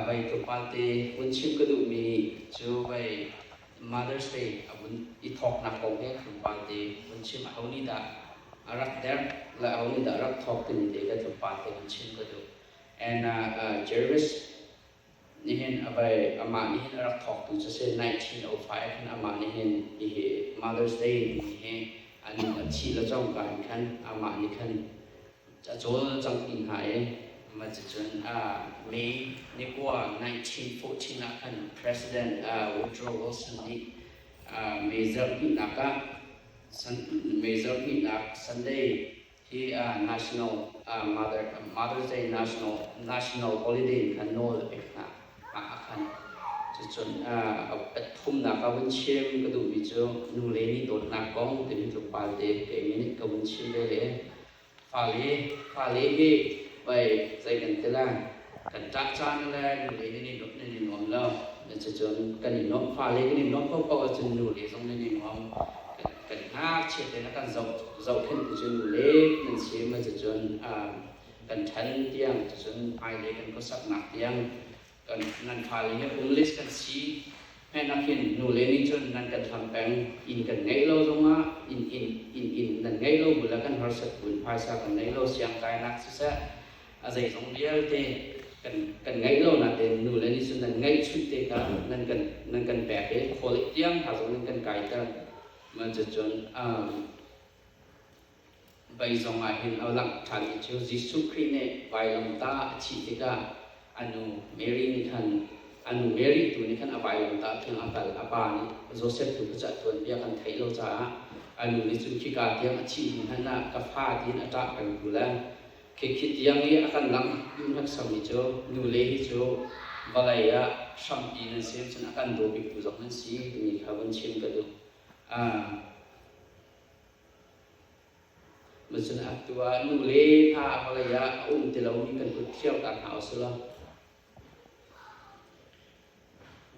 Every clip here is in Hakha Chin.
Vai tlawmpal te vun chim ka duhmi cu vai Mother's Day a vun i thawknak kong he tlawmpal te vun chim a ho nih dah a rak derh le a ho nih dah rak thawk timi te ka tlawmpal te vun chim ka duh. And uh, Jervis nihin a vai amah nihin a rak thawktu cu si 1905 khan amah nihin hihi Mother's Day ni hi an a thih le cangka in khan amah nih khan ca cawlcanghpi hna i maticun May ni kua 1914 ah khan President Woodrow Wilson nih May zarhnihnak ah May zarhnihnak Sunday hi National Mother's Day National Holiday in khan nawl a pek hna ah khan cucun pathumnak ka vun chim ka duhmi cu nule nih dawtnak kong timi tluk palte ka ing in ka vun chim ve i Fale hi pei zei kan ti lai, kan ṭah caan le nule nan i nuamh nan i nuam lo. Cucun kan i nuamh. Fale kan i nuamh paohpaoh ahcun nule zong nan i nuam. Kan ngakchiat in a kan zohkhenh tu cu nule nan si maw cucun kan ṭhan tiang cucun hmailei kan khuasaknak tiang Nan faale police kan si hmanh ah hin nule nih cun nan kan hlam peng, inn kan ngeih lo zongah inn in nan ngeih lo bu le kan harsat bu in phaisa kan ngei lo, siangtlainak siseh a zeizong vialte kan ngeih lo nain nule nih cun nan ngeihchunh te kha nan kan pek i khualei tiang hna zong in kan kaiter. Cucun Vai zong ah hin a langh ṭhan i cu Jesuh Khrih nih vailawngta a thih tikah a nu Mary nih khan a nu Mary tu nih khan a vailawngta tiang a kal, a pa nih Josef tu kha cah tuanbia kan theih lo caah a nu nih cun khika tiang a thih hnu hmanh ah ka fa tiin a ṭah peng hnu le khikhi tiang i a kan langh hneksakmi cu nule hi cu vawlei ah hrampi nan si cun a kan daw biktu zong nan si timi kha vun chim ka duh. Macun a tu ah nu le pa vawlei ah a um ti lomi kan hmuh ṭhio ta hna u sih law,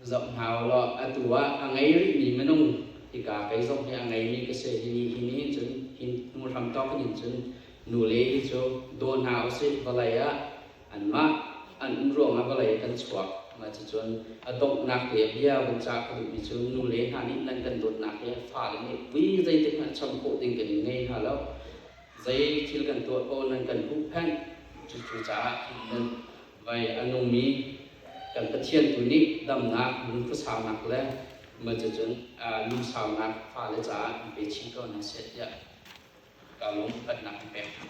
zoh hna u law atu ah a ngei rihmi minung hika kei zong hi a ngeimi ka si. Hi ni hi nihin cun hi hnu hramthawk in cun nu le hi cu daw hna u sih vawlei ah. anmah an um ruangah vawlei kan chuak. Mah cucun a donghnak le a bia vun cah ka duhmi cu nule hna nih nan kan dawtnak hi fale nih vui zeitik hmanh cham khawh ding kan i ngei hna lo. Zei thil kan tuah ko nan kan huhphenh. Cucaah nan vai a nungmi kan Pathian tu nih damnak, lungfusaunak le mah cucun lungsaunak fale caah i pe chih ko hna seh tiah ka lungphatnak in pek hna.